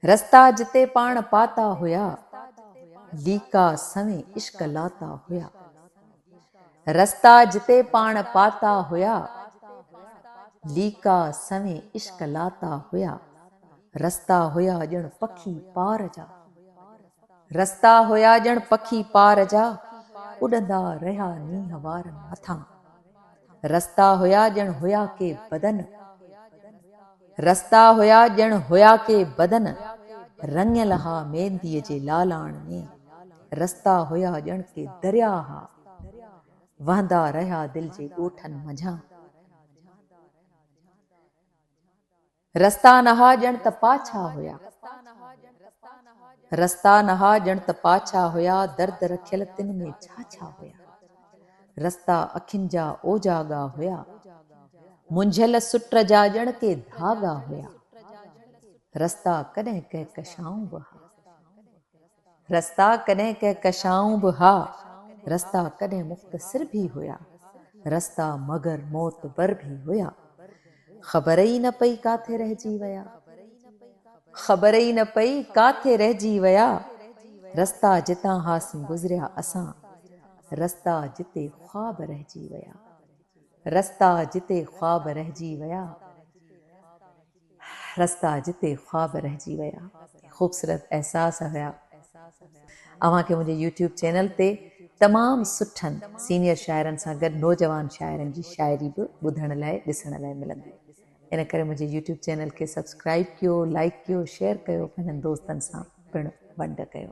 رستا جتي پاڻ پاتا هيا، ليڪا سوين عشق لاتا هيا. رستا جتي پاڻ پاتا هيا، ليڪا سوين عشق لاتا هيا. رستا هيا ڄڻ پکي پار جا، رستا هيا ڄڻ پکي پار جا، اڏندا رهيا نينهن وارن مٿان. رستا هيا ڄڻ هيا ڪي بدن رستا هيا ڄڻ هيا ڪي بدن رڱيل ها مينديء جي لالاڻ ۾، رستا هيا ڄڻ ڪي دريا ها وهندا رهيا دل جي ڳوٺن منجهان. رستا نها ڄڻ ته پاڇا هيا. رستا نها ڄڻ ته پاڇا هيا، درد رکيل تن ۾ ڇا ڇا هيا. رستا اکين جا اوجاڳا هيا، منجهيل سٽ جا ڄڻ ڪي ڌاڳا هيا. رستا ڪڏهن ڪهڪشائون به ها. رستا ڪڏهن ڪهڪشائون به ها، رستا ڪڏهن مختصر به هيا، رستا مگر معتبر به هيا. خبر ئي نه پئي ڪاٿي رهجي ويا. خبر ئي نه پئي ڪاٿي رهجي ويا. رستا جتان هاسين گذريا اسان، رستا جتي خواب رهجي ويا. رستا جتي خواب رهجي ويا. رستا جتي خواب رهجي ويا. خوبصورت احساس هيا اوهان کي منهنجي يوٽيوب چينل تي تمام سٺن سينيئر شاعرن سان گڏ نوجوان شاعرن جي شاعري به ٻڌڻ لاء ڏسڻ لاء ملندي ان ڪري منهنجي يوٽيوب چينل کي سبسڪرائيب ڪيو لائيڪ ڪيو شيئر ڪيو پنهنجن دوستن سان پڻ ونڊ ڪيو.